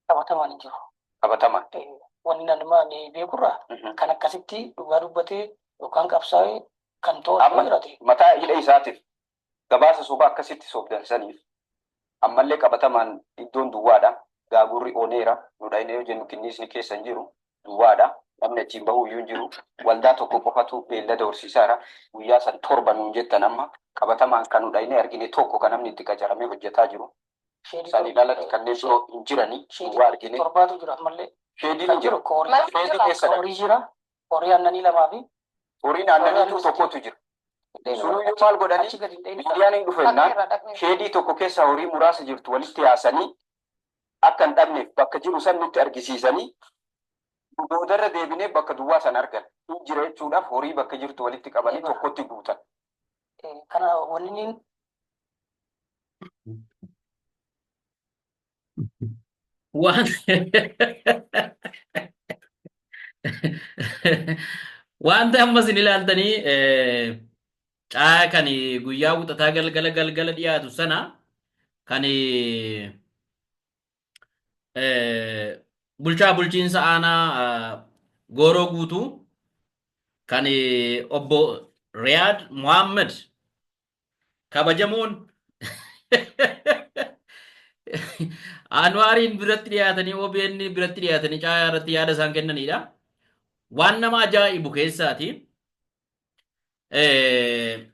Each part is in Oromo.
qabatamaan hin jiru. Qabatamaan. Wanni nama ni beekurraa kan akkasitti dhugaa dubbatee yookaan qabsaa'ee kan to'atu Amma- jiraate. Mataa hidha isaatiif gabaasa sobaa akkasitti sobdan saniif ammallee qabatamaan iddoon duwwaadha. Gaagurri oneera. Nu dhayna yoo jennu kinniisni keessa hin jiru. Duwwaadha. Namni achiin bahuu iyyuu hin jiru. Waldaa tokko qofatu beellada horsiisaara. Guyyaa san torba nuun jettan amma qabatamaan kan nu dhaynee argine tokko kan namni itti qacaramee hojjetaa jiru. Sheedii Saniin torba. alatti kanneen biroo hin jirani. Duwwaa Sheedii argine. torbaatu jira ammallee. Sheediin hin jiru. Koorii Sheedii jira. keessa dha. Koorii jira. horii aannanii lamaa fi horiin aannaniituu tokkotu jira. Sunuyyuu maal godhanii miidiyaan hin dhufennaan sheedii tokko keessa horii muraasa jirtu walitti yaasanii akka hin dhabneef bakka jiru san nutti argisiisanii boodarra deebinee bakka duwwaa san argan hin jira jechuudhaaf horii bakka jirtu walitti qabanii tokkotti guutan. Kana wanni waan wanta amma isin ilaaltanii eh, caa kan guyyaa wixataa galgala galgala dhiyaatu sana kan eh, bulchaa bulchiinsa aanaa ah, gooroo guutuu kan eh, obbo Riyaad Mohaammed kabajamoon Anwaariin biratti dhiyaatanii OBN biratti dhiyaatanii caayaa irratti yaada isaan kennanidha. Waan nama ajaa'ibu keessaati. Eh,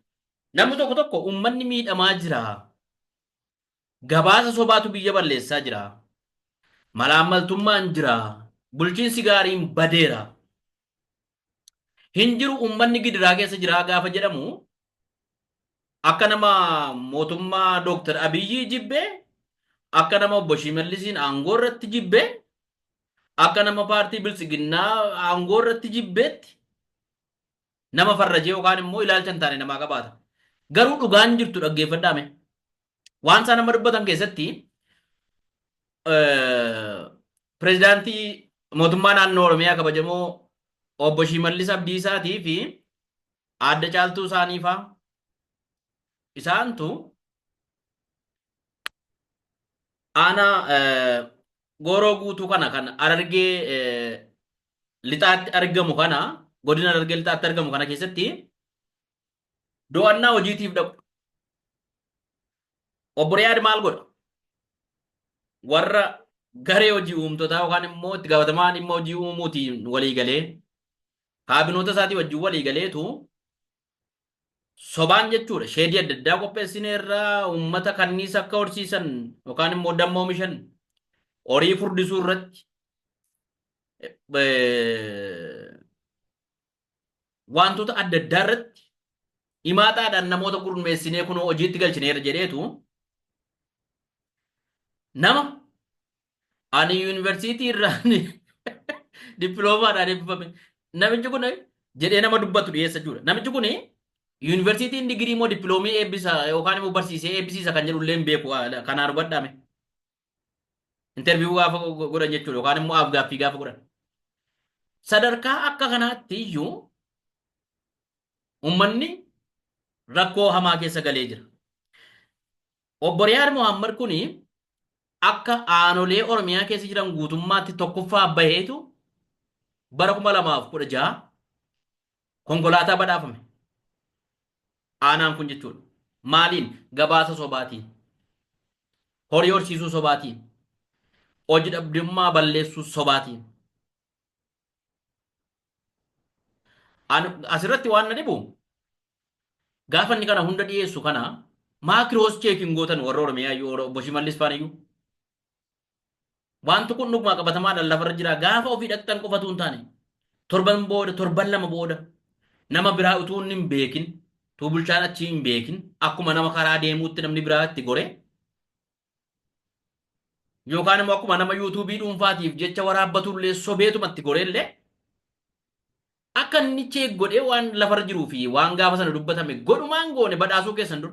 Namni tokko tokko uummanni miidhamaa jira. Gabaasa sobaatu biyya balleessaa jira. Malaammaltummaan jira. Bulchiinsi gaariin badeera. hin jiru uummanni gidiraa keessa jiraa gaafa jedhamu akka nama mootummaa Dooktar Abiyyii jibbe akka nama obbo Shiimallisiin aangoo irratti jibbe akka nama paartii biltsiginnaa aangoo irratti jibbeetti nama farrajee yookaan immoo ilaalcha hin taane namaa qabaata. Garuu dhugaan jirtu dhaggeeffadhaame. waan isaan amma dubbatan keessatti pirezidaantii mootummaa naannoo Oromiyaa kabajamoo obbo Shimallis Abdiisaatii fi aadde caaltuu isaanii faa isaantu aanaa gooroo guutuu kana kan arargee lixaatti argamu kana godina arargee lixaatti argamu kana keessatti Do'annaa hojiitiif dhaqu. Obbo Riyaad maal godha? Warra garee hojii uumtotaa yookaan immoo itti gaafatamaa dhimma hojii uumuutiin walii galee kaabinoota isaatii wajjin walii galeetu sobaan jechuudha. Sheedii adda addaa qopheessine irraa uummata kanniisa akka horsiisan yookaan immoo damma oomishan horii furdisuu irratti waantota adda addaa irratti himaataadhaan namoota gurmeessinee kunoo hojiitti galchineera jedheetu nama ani yuunivarsiitii irraa dippiloomaadhaan eebbifame namichi kun jedhee nama dubbatu dhiyeessa jechuudha. Namichi kun yuunivarsiitiin digirii moo dippiloomii eebbisa yookaan immoo barsiisee eebbisiisa kan jedhu illee hin beeku kanaa hubadhaame. interviyuu gaafa godhan jechuudha yookaan immoo afgaaffii gaafa godhan. Sadarkaa akka kanaatti iyyuu uummanni rakkoo hamaa keessa galee jira. Obbo Riyaad Mohaammed kun akka aanolee Oromiyaa keessa jiran guutummaatti tokkoffaa baheetu bara 2016 konkolaataa badhaafame. Aanaan kun jechuudha. Maaliin? Gabaasa sobaatiin. horii horsiisuu sobaatii, hoji dhabdummaa balleessuu sobaatii. An asirratti waan na dhibu gaafa inni kana hunda dhiyeessu kana maakiroos cheekiin gootan warra Oromiyaa iyyuu obbo Shimallis faana iyyuu Wanti kun dhuguma qabatamaadhaan lafarra jira. Gaafa ofii dhaqxan qofa utuu hin taane torban booda torban lama booda nama biraa utuu inni hin beekin utuu bulchaan achii hin beekin akkuma nama karaa deemuutti namni biraa itti gore yookaan immoo akkuma nama yuutuubii dhuunfaatiif jecha waraabbatullee sobeetuma itti goreellee akka inni cheek godhee waan lafarra jiruu fi waan gaafa sana dubbatame godhumaan goone badhaasuu keessan dur.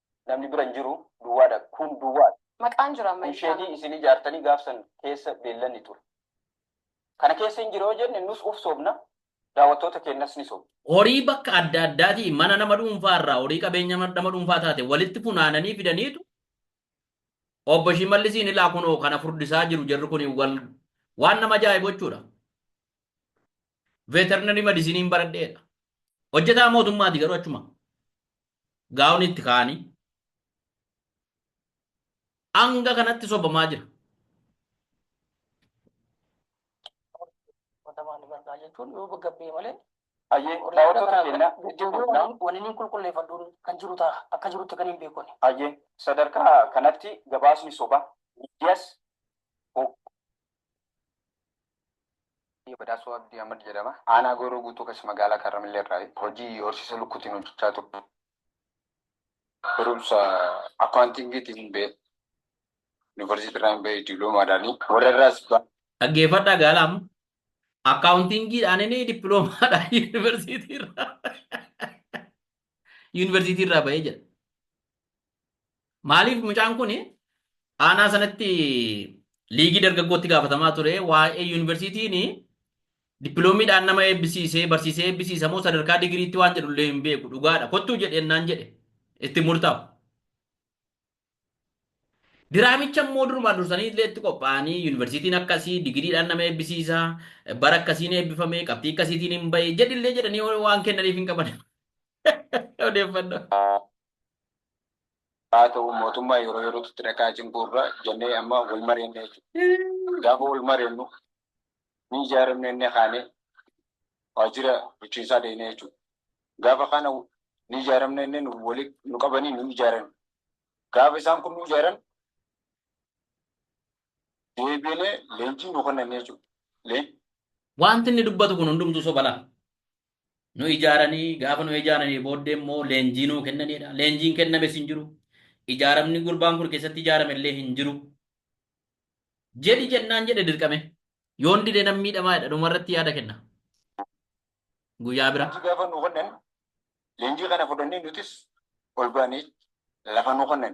Namni bira hin jiru duwwaadha. Kun duwwaadha. Maqaan jira amma Kun ilkaan. sheedii isin ijaartanii gaafsan keessa beellanni ture. Kana keessa hin jiru yoo jenne nus uf soobna, daawwattoota keenyas ni soobna. Horii bakka adda addaatii mana nama dhuunfaa irraa horii qabeenya nama dhuunfaa taate walitti funaananii fidaniitu obbo Shimallisiin ilaa kunoo kana furdisaa jiru jarri kun wal waan nama ajaa'ibu jechuudha. Veterinarii madisiniin baradheedha. Hojjetaa mootummaati garuu achuma. gaawonii itti kaa'anii hanga kanatti sobamaa jira. Watamaan bardaa jechuun yoo bakka bee malee Ayyee daawwattoota keenya deddeebi'uun wanni qulqulleeffadhuun kan jiru ta'a akka jirutti kan hin beekne. ayyee sadarkaa kanatti gabaasni sobaa miidiyas Badhaasoo Abdii Ahmad jedhama. Aanaa Gooroo Guutuu keessa magaalaa Kaarramillee irraayi. Hojii horsiisa lukkuutiin hojjechaa ture. Barumsa akkaawuntiingiitiin ba'e. Yuunivarsiitii irraan ba'e diploomaadhaani. Warra irraas ba. Dhaggeeffadhaa gaala amma. Akkaawuntiingiidhaanini diploomaadhaan yuunivarsiitii irraa yuunivarsiitii irraa ba'ee jedha. Maaliif mucaan kun aanaa sanatti liigii dargaggootti gaafatamaa ture waa'ee yuunivarsiitiin dippiloomiidhaan nama eebbisiisee barsiisee eebbisiisa moo sadarkaa digiriitti waan jedhu illee hin beeku dhugaadha kottuu jedheen naan jedhe itti murtaa'u. Diraamicha immoo durumaa dursanii illee itti qophaa'anii yuunivarsiitiin akkasii digiriidhaan nama eebbisiisa bara akkasiin eebbifame qabxii akkasiitiin hin bahe jedhillee jedhanii waan kennaniif hin qaban. Odeeffannoo. Haa ta'u mootummaa yeroo yerootti itti dhaqaa cinquu irra jennee amma wal mareenna jechuudha. Gaafa wal mareennu ni ijaaramne inni kaane waajjira bulchiinsaa deemnee jechuudha. Gaafa kana ni ijaaramne inni nu wali nu qabanii nu ijaaran. Gaafa isaan kun nu ijaaran deebiinee leenjii nu kennan jechuudha. Leen Wanti inni dubbatu kun hundumtuu soba laa? nu ijaaranii gaafa nu ijaaranii booddee immoo leenjii nuu kennaniidha. Leenjiin kennames hin jiru. Ijaaramni gurbaan kun keessatti ijaarame illee hin jiru. Jedhi jennaan jedhe dirqame. Yoon dide nan miidhamaa jedha dhumarratti yaada kenna. Guyyaa bira. Leenjii gaafa nu kennan leenjii kana fudhannee nutis ol baanee lafa nu kennan.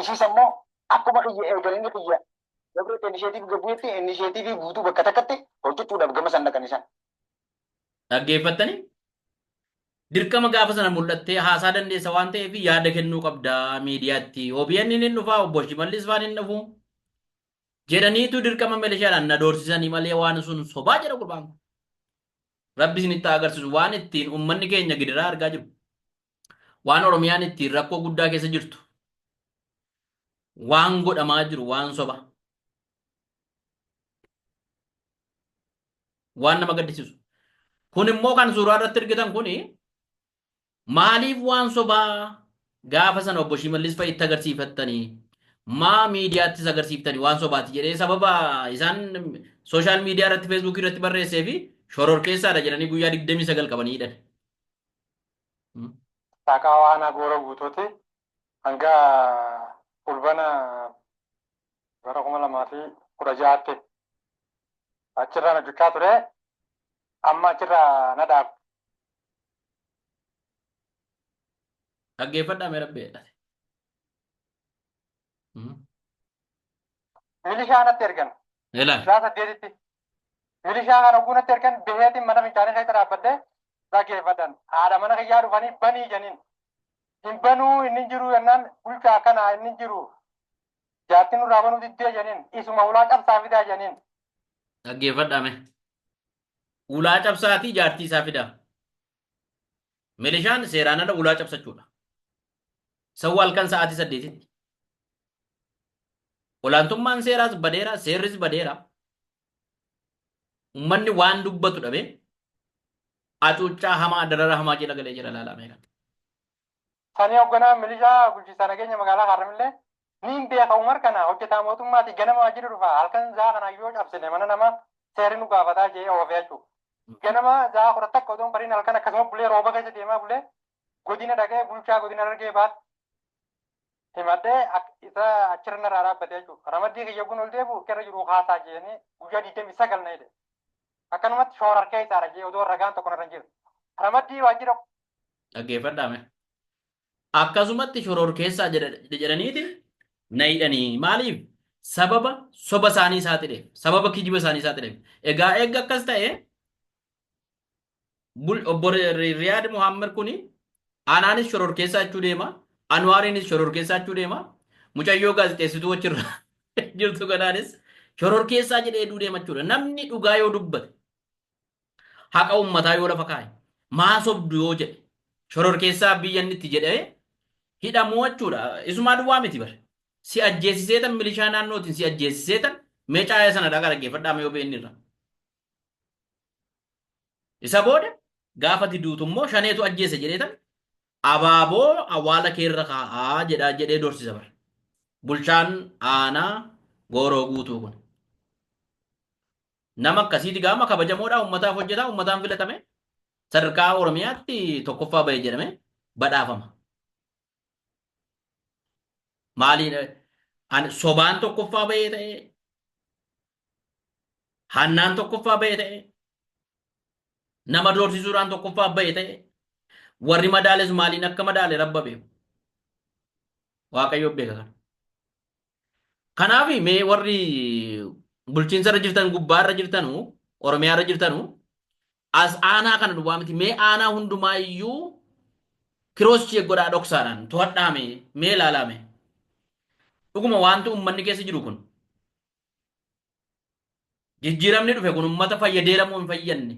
Ishiis ammoo akkuma kiyya eegan inni kiyya Dabreetti inisheetiivii gabbu'etti inisheetiivii guutuu bakka takkatti hojjechuudhaaf gama san dhaqan isaan. Dhaggeeffattanii dirqama gaafa sana mul'attee haasaa dandeessa waan ta'eef yaada kennuu qabda miidiyaatti. OBN hin dhufaa obbo Shimallis faan hin dhufu. Jedhaniitu dirqama milishaadhaan na doorsisanii malee waan sun sobaa jedha gurbaan kun. Rabbi isinitti haa agarsiisu waan ittiin uummanni keenya gidiraa argaa jiru. Waan Oromiyaan ittiin rakkoo guddaa keessa jirtu waan godhamaa jiru waan soba. Waan nama gaddisiisu. Kun immoo kan suuraa irratti argitan kun maaliif waan sobaa gaafa sana obbo Shimallis fa'itti agarsiifattanii maa miidiyaattis agarsiiftanii waan sobaati jedhee sababa isaan sooshaal miidiyaa irratti feesbuukii irratti barreessee fi shororkeessaadha jedhanii guyyaa 29 qabanii hidhan. Saaqaawaa Aanaa Gooroo Guutuuti hanga Fulbana bara 2016tti achirraan hojjechaa ture. Amma achirraa na dhaabe. Dhaggeeffadhaa mee rabbi jedhate. Milishaa natti ergan. Ila. Isaa saddeetitti. Milishaa kana guunatti ergan biheetiin mana fincaanii keessa dhaabbadhee dhageeffadhan. Haadha mana kiyyaa dhufanii banii janiin. Hin banuu inni hin jiru jennaan bulchaa kana inni hin jiru. Jaartiin nurraa banuu diddee janiin. Isuma ulaa cabsaa fidaa janiin. Dhaggeeffadhaame. Ulaa cabsaatii jaartii isaa fidaa. Milishaan seeraan ala ulaa cabsachuudha. Sawwa halkan sa'aatii saddeetitti. Olaantummaan seeraas badeera, seerris badeera. Uummanni waan dubbatu dhabe hacuuccaa hamaa darara hamaa jala galee jira ilaalaa meeqa. Sani hogganaan milishaa bulchiinsa nageenya magaalaa Haarramillee niin beeka Umar kana hojjetaa mootummaati ganama waajjira dhufa halkan zaa kana yoo cabsine mana nama seeri nu gaafataa je'ee oofee achu. Ganama zaa kudha takka odoon bariin halkan akkasuma bulee rooba keessa deemaa bulee godina dhaqee bulchaa godina Harargee bahaatti himadhee isa achirra narraa dhaabbatee achu. Ramaddii kiyya gun ol deebi'u irra jiru haasaa je'anii guyyaa 29 na hidhe. Akkanumatti shoora harkee isaadha je'ee odoo ragaan tokko narra hin jiru. Ramaddii waajjira Dhaggeeffadhaa mee. Akkasumatti shororkeessaa jedha- jedhaniiti na hidhanii. Maaliif? Sababa soba isaanii saaxileef. Sababa kijiba isaanii saaxileef. Egaa eegga akkas ta'e bul- obbo Ri- Ri- Riyaad Muhammad kuni anaanis shororkeessaa jechuu deema. Anwaariinis shororkeessaa jechuu deema. Mucayyoo gaazexeessituu achirra jirtu kanaanis shororkeessaa jedhee duu deema jechuudha. Namni dhugaa yoo dubbate haqa ummataa yoo lafa kaa'e maa sobdu yoo jedhe shororkeessaa biyya inni itti jedhee hidhamuu jechuudha. Isumaa duwwaa miti bar. Si ajjeesiseetan milishaa naannootiin si ajjeesiseetan mee caaya sana dhagaa dhaggeeffadhaa mee OBN irra. Isa booda gaafa ati duutu immoo shaneetu ajjeese jedheetan abaaboo awwaala keerra kaa'aa jedhaa jedhee dorsisa bar. Bulchaan aanaa gooroo guutuu kun. Nama akkasiiti gaama kabajamoodhaa uummataaf hojjetaa uummataan filatame sadarkaa Oromiyaatti tokkoffaa bahe jedhame badhaafama. Maaliin an sobaan tokkoffaa bahee ta'e hannaan tokkoffaa bahee ta'e nama doorsisuudhaan tokkoffaa bahee ta'e warri madaales maaliin akka madaale rabba beeku. Waaqayyo beeka kana. Kanaafi mee warri bulchiinsa irra jirtan gubbaa irra jirtanu Oromiyaa irra jirtanu as aanaa kana duwwaa miti mee aanaa hundumaa iyyuu kiroos cheek godhaa dhoksaadhaan to'adhaa mee mee ilaalaa mee dhuguma wanti ummanni keessa jiru kun jijjiiramni dhufe kun ummata fayyadeera moo hin fayyadne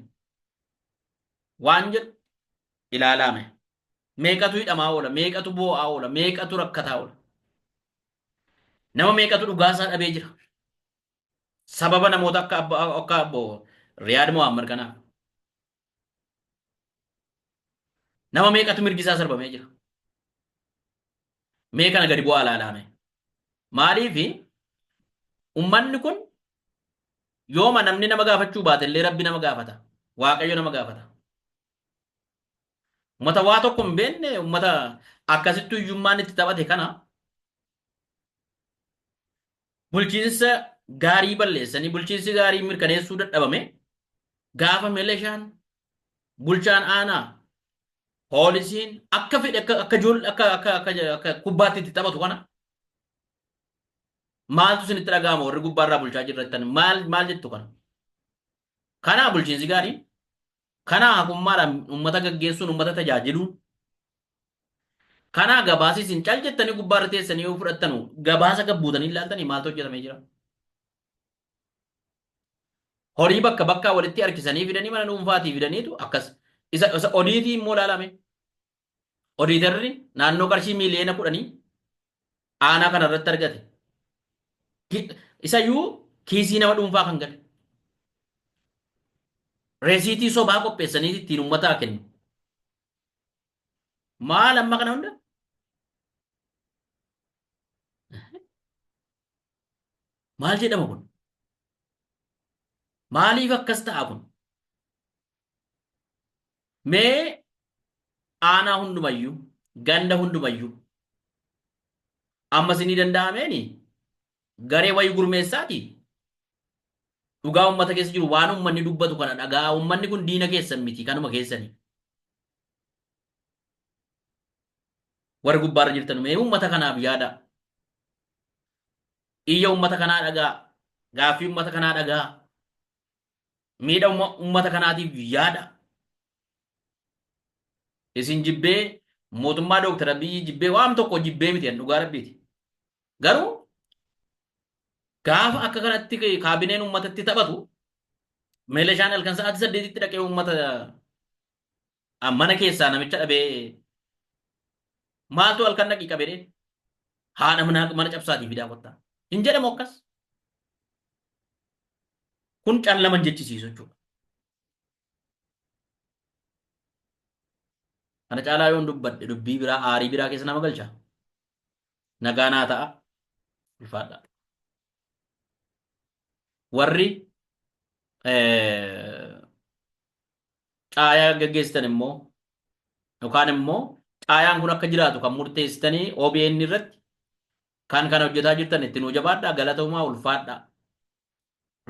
waan jedhu ilaalaa mee. Meeqatu hidhamaa oola, meeqatu boo'aa oola, meeqatu rakkataa oola. Nama meeqatu dhugaa isaa dhabee jira. Sababa namoota akka abbo akka abbo Riyaad Mohaammed kanaaf. Nama meeqatu mirgi isaa sarbamee jira. Mee kana gadi bu'aa ilaalaame. Maaliif ummanni kun yooma namni nama gaafachuu baate illee rabbi nama gaafata. Waaqayyo nama gaafata. Ummata waa tokko hin beekne ummata akkasittuu hiyyummaan itti taphate kana bulchiinsa gaarii balleessanii bulchiinsi gaarii mirkaneessuu dadhabame gaafa milishaan bulchaan aanaa poolisiin akka fedhe akka akka ijoollee akka akka akka akka kubbaatti itti taphatu kana maaltu isinitti dhaga'ama warri gubbaarraa bulchaa jirrattan maal maal jettu kana kanaa bulchiinsi gaarii Kanaa haqummaadhaan uummata gaggeessuun uummata tajaajiluun kanaa gabaasi isin cal jettanii gubbaa irra teessanii yoo fudhattanu gabaasa gad buutanii hin laaltanii maaltu hojjetamee jira? Horii bakka bakkaa walitti harkisanii fidanii mana dhuunfaatii fidaniitu akkas isa isa odiitii immoo laalame. odiitarri naannoo qarshii miiliyoona kudhanii aanaa kana irratti argate. Ki- Isayyuu kiisii nama dhuunfaa kan gale. Reesiitii sobaa qopheessanii ittiin uummataa kennu. Maal amma kana hunda? Maal jedhama kun? Maaliif akkas ta'a kun? Mee aanaa hundumayyuu, ganda hundumayyuu ammas inni danda'ameeni garee wayii gurmeessaati dhugaa uummata keessa jiru waan uummanni dubbatu kana dhagaa uummanni kun diina keessan miti kanuma keessani. Warri gubbaarra jirtan mee uummata kanaaf yaada. Iyya uummata kanaa dhagaa, gaaffii uummata kanaa dhagaa. miidhama ummata kanaatiif yaada. Isin jibbee mootummaa Dooktar Abiyyi jibbee waan tokko jibbee miti an dhugaa rabbiiti. Garuu gaafa akka kanatti kaabineen ummatatti taphatu meelashaan halkan sa'aatii saddeetitti dhaqee ummata An mana keessaa namicha dhabee maaltu halkan dhaqii qabedhe haadha manaa mana cabsaatii fidaa kottaa. Hin jedhamu akkas. Kun callaman jechisiisu jechuudha. Kana caalaa yoon dubbadhe dubbii biraa aarii biraa keessa nama galcha. Nagaa naa ta'a. Ulfaadha. Warri eh, caayaa gaggeessitan immoo yookaan immoo caayaan kun akka jiraatu kan murteessitanii OBN irratti kan kana hojjetaa jirtan itti nuu jabaadhaa galatoomaa ulfaadhaa.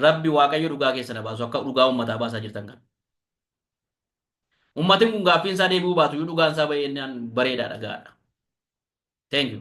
Rabbi waaqayyo dhugaa keessa na baasu akka dhugaa uummataa baasaa jirtan kana. Uummatiin kun gaaffiin isaa deebi'uu baatu iyyuu dhugaan isaa baay'inaan bareedaadha gaadha. Thank you.